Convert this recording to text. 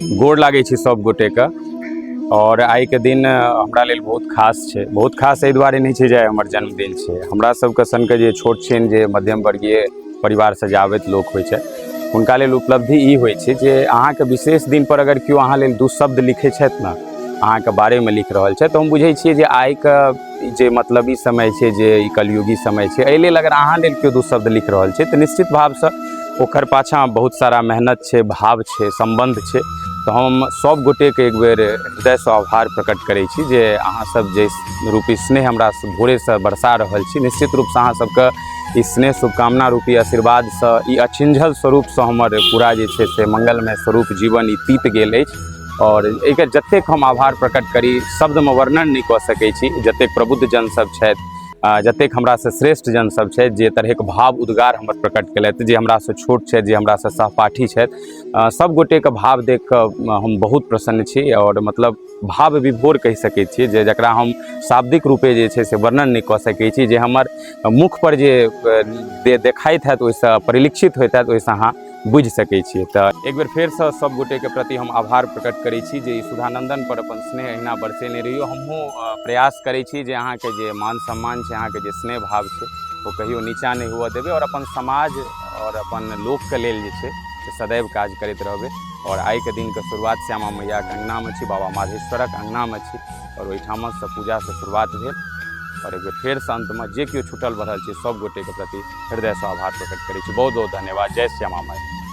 गोड़ लागै छी सब गोटे के और आइ के दिन हमरा लेल बहुत खास छै बहुत खास एहि दुआरे नहि छै जे हमर जन्मदिन छै हमरा सबके सन के जे छोट छिन जे मध्यम वर्गीय परिवार से जावैत लोक होइ छै हुनका लेल उपलब्धि ई होइ छै जे अहाँके विशेष दिन पर अगर केओ अहाँ लेल दू शब्द लिखै छथि ने अहाँके बारेमे लिख रहल छथि तऽ हम बुझै छियै जे आइ के ई जे मतलबी समय छै जे ई कलयुगी समय छै एहि लेल अगर अहाँ लेल केओ दू शब्द लिख रहल छै तऽ निश्चित भावसँ ओकर पाछाँ बहुत सारा मेहनत छै भाव छै सम्बन्ध छै तऽ हम सभ गोटेके एक बेर हृदयसँ आभार प्रकट करै छी जे अहाँसभ जे रूपी स्नेह हमरा भोरेसँ बरसा रहल छी निश्चित रूपसँ अहाँसभके ई स्नेह शुभकामना रूपी आशीर्वादसँ ई अछिंझल स्वरूपसँ हमर पूरा जे छै से मङ्गलमय स्वरूप जीवन ई तीत गेल अछि आओर एकर जतेक हम आभार प्रकट करी शब्दमे वर्णन नहि कऽ सकै छी जतेक प्रबुद्ध जन सब छथि आ जतेक हमरासँ श्रेष्ठ जन सब छथि जे तरहेक भाव उद्गार हमर प्रकट केलथि जे हमरासँ छोट छथि जे हमरासँ सहपाठी छथि आ, सब गोटेके भाव देख कऽ हम बहुत प्रसन्न छी आओर मतलब भाव विभोर कहि सकै छी जे जकरा हम शाब्दिक रूपे जे छै से वर्णन नहि कऽ सकै छी जे हमर मुखपर जे अ, दे देखाइत हैत ओहिसँ परिलक्षित होइत हैत ओहिसँ अहाँ बुझि सकै छियै तऽ एक बेर फेरसँ सब गोटेके प्रति हम आभार प्रकट करै छी जे ई सुधानंदन पर अपन स्नेह अहिना बरसेने रहियो हमहूँ अ, प्रयास करै छी जे अहाँके जे मान सम्मान छै अहाँके जे स्नेह भाव छै ओ कहियो नीचा नहि हुअ देबै आओर अपन समाज आओर अपन लोकके लेल जे छै से सदैव काज करैत रहबै आओर आइके दिनके शुरुआत श्यामा मैयाके अङ्गनामे छी बाबा माधेश्वरक अङ्गनामे छी आओर ओहिठामसँ पूजासँ शुरुआत भेल आओर एक बेर फेरसँ अन्तमे जे केओ छूटल बढ़ल छै सभगोटेके प्रति हृदयसँ आभार प्रकट करै छी बहुत बहुत धन्यवाद जय श्यामा माइ